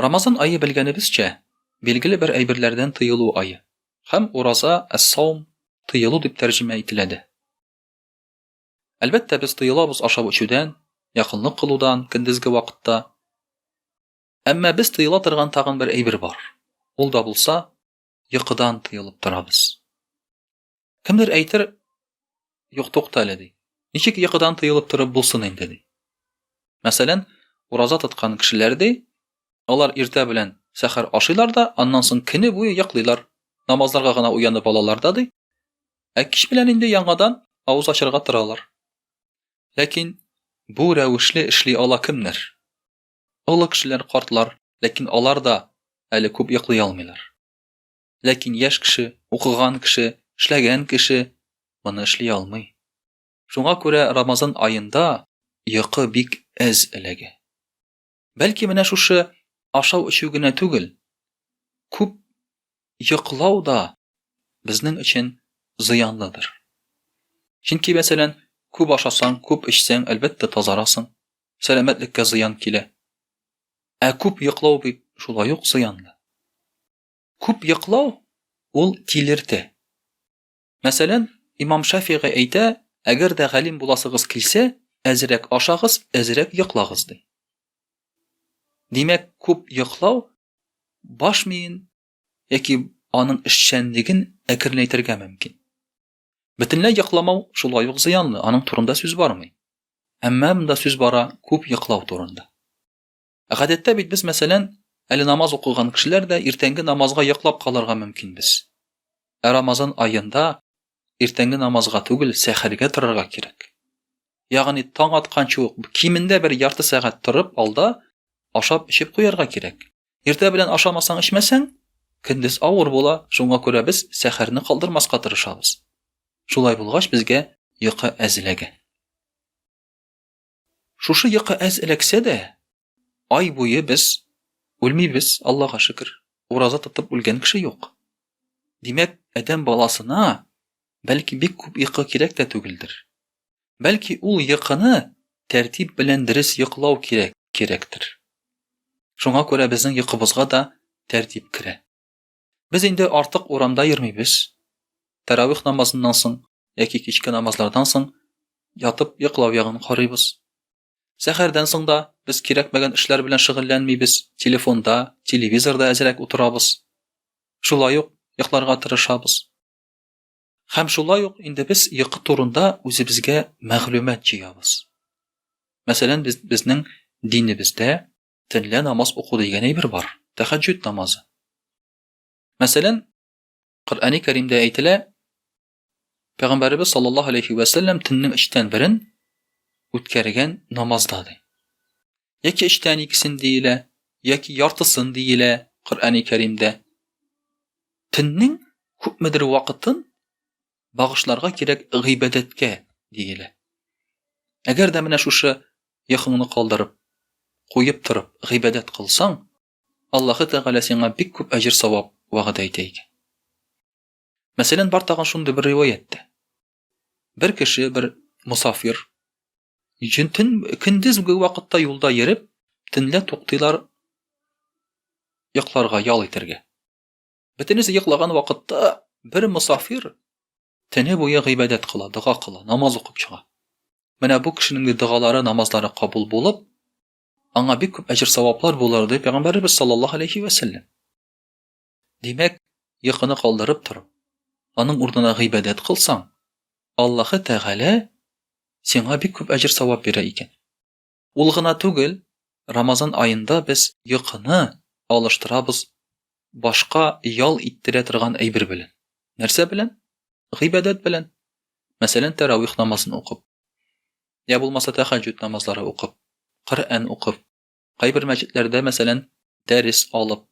Рамазан ае белгәнебезчә, билгеле бер әйберләрдән тыелу ае. Һәм ураза, әс-саум, тыелу дип тәрҗемә ителә дә. Әлбәттә, без тыелабыз ашап-эчүдән, якынлык кылудан көндезге вакытта. Әмма без тыела торган тагын бер әйбер бар. Ул да булса, йокыдан тыелып торабыз. Кемдер әйтер, юк тукта әле ди. Ничек йокыдан тыелып торып булсын инде ди. Мәсәлән, ураза тоткан кешеләр ди, алар иртә белән сәхәр ашыйлар да, аннан соң көне буе йоклыйлар. Намазларга гына уянып алалар да ди. Ә кич белән инде яңадан авыз ачарга торалар. Ләкин бу рәвешле эшли ала кемнәр? Олы кешеләр, картлар, ләкин алар да әле күп йоклый алмыйлар. Ләкин яшь кеше, укыган кеше, эшләгән кеше моны эшли алмый. Шуңа күрә Рамазан аенда йокы бик әз эләгә. Бәлки менә шушы ашау-эчү генә түгел, күп йоклау да безнең өчен зыянлыдыр. Чөнки, мәсәлән, күп ашасаң, күп эчсәң, әлбәттә, тазарасың, сәламәтлеккә зыян килә. Ә күп йоклау бит шулай ук зыянлы. Күп йоклау ул тилерте. Мәсәлән, имам Шафигый әйтә, әгәр дә галим буласыгыз килсә, әзрәк ашагыз, әзрәк йоклагыз ди. Димәк, күп йоклау баш миен яки аның эшчәнлеген әкренәйтергә мөмкин. Бөтенләй йокламау шулай ук зыянлы, аның турында сүз бармый. Әмма монда сүз бара күп йоклау турында. Гадәттә бит без, мәсәлән, әле намаз укыган кешеләр дә иртәнге намазга йоклап калырга мөмкинбез. Ә Рамазан аенда иртәнге намазга түгел, сәхәргә торырга кирәк. Ягъни таң атканчы ук кимендә бер ярты сәгать торып алда ашап эчеп куярга кирәк. Иртә белән ашамасаң, эчмәсәң, көндез авыр була, шуңа күрә без сәхәрне калдырмаска тырышабыз. Шулай булгач, безгә йокы әзләгән. Шушы йокы әз эләксә дә, ай буе без үлмибез, Аллага шөкер. Ураза тотып үлгән кеше юк. Димәк, адәм баласына бәлки бик күп йокы кирәк тә түгелдер. Бәлки ул йокыны тәртип белән дөрес йоклау кирәк, кирәктер. Шуңа күрә безнең йокыбызга да тәртип керә. Без инде артык урамда йөрмибез. Тәравих намазыннан соң яки кичке намазлардан соң ятып йоклау ягын карыйбыз. Сәхәрдән соң да без кирәкмәгән эшләр белән шөгыльләнмибез, телефонда, телевизорда әзрәк утырабыз. Шулай ук йокларга тырышабыз. Һәм шулай ук инде без йокы турында үзебезгә мәгълүмат җыябыз. Мәсәлән, без, безнең динебездә Төнлә намаз уку дигән әйбер бар, тәхәҗҗүд намазы. Мәсәлән, Коръәни Кәримдә әйтелә, Пәйгамбәребез саллаллаһу алейхи ва саллям төннең өчтән берен үткәргән намазда ди. Яки өчтән икесен диелә, яки яртысын диелә Коръәни Кәримдә. Төннең күпмедер вакытын багышларга кирәк гыйбадәткә, диелә. Әгәр дә менә шушы йокыңны калдырып, куеп торып, гыйбадәт кылсаң, Аллаһы Тәгалә сиңа бик күп әҗер-савап вәгъдә итә икән. Мәсәлән, бар тагын шундый бер риваять тә. Бер кеше, бер мусафир, җен төн көндезге вакытта юлда йөреп, төнлә туктыйлар йокларга, ял итәргә. Бөтенесе йоклаган вакытта бер мусафир тене буе гыйбадәт кыла, дога кыла, намаз укып чыга. Менә бу кешенең дә догалары, намазлары кабул булып, аңа бик күп әҗер саваплар булыр дип пәйгамбәребез саллаллаһу алейхи ва саллям. Димәк, йокыны калдырып торып, аның урынына гыйбадәт кылсаң, Аллаһы Тәгалә сиңа бик күп әҗер савап бирә икән. Ул гына түгел, Рамазан аенда без йокыны алыштырабыз башка ял иттерә торган әйбер белән. Нәрсә белән? Гыйбадәт белән. Мәсәлән, тәравих намазын укып. Я булмаса тәхәҗҗүд намазлары укып, Коръән укып, кайбер мәчетләрдә, мәсәлән, дәрес алып.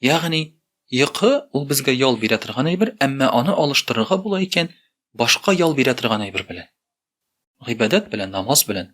Ягъни, йокы ул безгә ял бирә торган әйбер, әмма аны алыштырырга була икән башка ял бирә торган әйбер белән. Гыйбадәт белән, намаз белән.